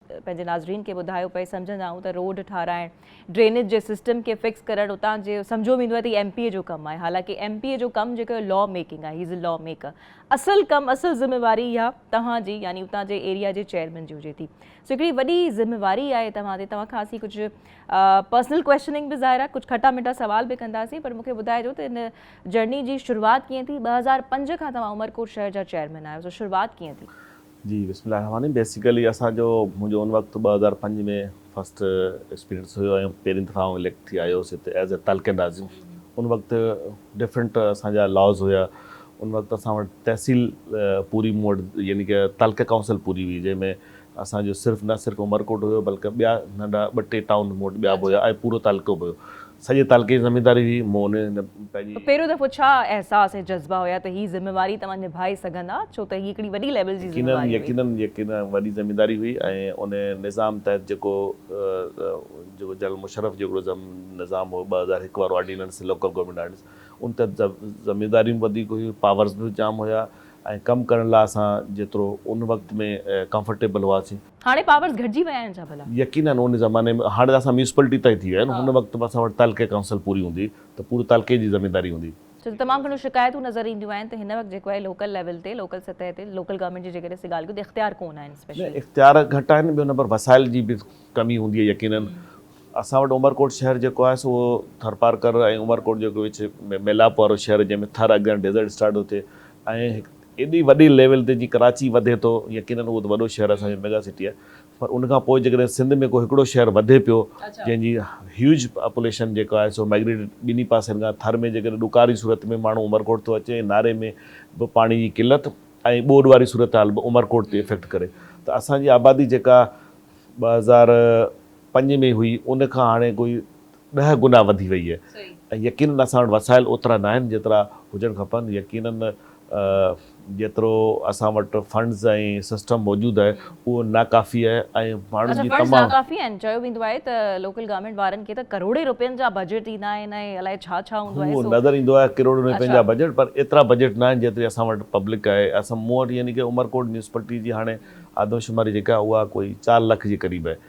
پنهنجي ناظرين کي ٻڌايو پئي سمجهندا آهيون ته روڊ ٺاهرائڻ ڊرينيج جي سسٽم کي فڪس ڪرڻ اتان جي سمجهو ويندو آهي ته ايم پي اي جو ڪم آهي حالانڪه ايم پي اي جو ڪم جيڪو لا ميڪنگ آهي هيز لا ميڪر اصل ڪم اصل ذميواري اها توهان جي يعني اتان جي ايريا جي چيئرمين جي هجي ٿي سو هڪڙي وڏي ذميواري آهي توهان تي توهان کان اسين ڪجهه پرسنل ڪويشچننگ به ظاهر آهي ڪجهه کٽا مٺا سوال به ڪنداسين پر مونکي ٻڌائجو ته هن جرني جي شروعات ڪيئن ٿي ٻه هزار پنج کان توهان عمرڪوٽ شهر جا چيئرمين آهيو سو شروعات ڪيئن ٿي جي بسم الله الرحمٰن الرحيم بيسيڪلي اسان جو منهنجو ان وقت ٻه هزار پنج ۾ فرسٽ ايڪسپيرينس هيو ۽ پهرين دفعا آئون اليڪٽ ٿي آيو هيس هتي ايز اي تعلقي ناظم ان وقت ڊفرنٽ اسان جا لاز هيا ان وقت اسان وٽ تحصيل پوري مون وٽ يعني ڪه تعلقي ڪائونسل پوري هئي جنهن ۾ اسان جو صرف نه صرف عمرڪوٽ هيو بلڪه ٻيا ننڍا ٻه ٽي ٽائون مون وٽ ٻيا به هيا ۽ پورو تعلقو به هيو سڄي تعلقي جي زمينداري هئي، مون انهيء هنڌ پنهنجي. پهريون دفعو ڇا احساس ۽ جذبا هيا ته هي ذميواري توهان نڀائي سگهندا، ڇو ته هي هڪڙي وڏي ليول جي ذميواري هئي. يقيناً، يقيناً، يقيناً وڏي زمينداري هئي ۽ ان نظام تحت جيڪو جيڪو جنرل مشرف جو هڪڙو نظام هو ٻه هزار هڪ وارو آرڊيننس، لوڪل گورنمينٽ آرڊيننس، ان تحت زمينداريون به وڌيڪ هيون، پاورز به جام هيا ۽ ڪم ڪرڻ لاء اسان جيترو ان وقت ۾ ڪمفرٽيبل هئاسين، هاڻي پاورز گهٽجي ويا آهن ڇا ڀلا؟ يقينن ان زماني ۾ هاڻي ته اسان ميونسپلٽي طئي ٿي ويا آهن ان وقت به اسان وٽ تعلقي ڪائونسل پوري هوندي ته پوري تعلقي جي زمينداري هوندي. ڇو ته تمام گهڻيون شڪايتون نظر اينديون آهن ته هن وقت جيڪو آهي لوڪل ليول تي لوڪل سطح تي لوڪل گورنمينٽ جي جيڪڏهن اسين ڳالهه ڪيون ته اختيار ڪون آهن اسپيشلي. اختيار گهٽ آهن ٻيو نمبر وسائل جي به ڪمي هوندي آهي يقينن اسان وٽ عمرڪوٽ شهر جيڪو آهي سو ٿرپارڪر ۽ عمرڪوٽ جيڪو وچ ۾ ميلاپ وارو شهر جنهن ۾ ٿر اڳيان ڊيزرٽ اسٽارٽ ٿو ٿئي ۽ ايڏي وڏي ليول تي جي ڪراچي وڌي ٿو يقينن اهو ته وڏو شهر اسان جو ميگا سٽي آهي پر ان کان پوء جيڪڏهن سنڌ ۾ ڪو هڪڙو شهر وڌي پيو جنهن جي هيوج پاپوليشن جيڪا آهي سو مائگريٽيڊ ٻنهي پاسن کان ٿر ۾ جيڪڏهن ڏڪار جي صورت ۾ ماڻهو عمرڪوٽ ٿو اچي ۽ ناري ۾ به پاڻي جي قلت ۽ ٻوڏ واري صورتحال به عمرڪوٽ تي افيڪٽ ڪري ته اسان جي آبادي جيڪا ٻه هزار پنج ۾ هئي ان کان هاڻي ڪوئي ڏهه گنا وڌي وئي ۽ يقينن اسان وٽ وسائل اوترا ناهن جيترا هجڻ کپن يقينن جيترو اسان وٽ فنڊز ۽ سسٽم موجود آهي اهو ناڪافي آهي ۽ ماڻهن جي تمام اڇا فنڊز ناڪافي آهن چيو ويندو آهي ته لوڪل گورنمينٽ وارن کي ته ڪروڙين رپين جا بجيٽ ڏيندا آهن ۽ الائي ڇا ڇا هوندو آهي سو اهو نظر ايندو آهي ڪروڙين رپين جا بجيٽ پر ايترا بجيٽ ناهن جيتري اسان وٽ پبلڪ آهي اسان مون وٽ يعني ڪي عمرڪوٽ ميونسپلٽي جي هاڻي آدمشماري جيڪا اها ڪوئي چار لک جي قريب آهي.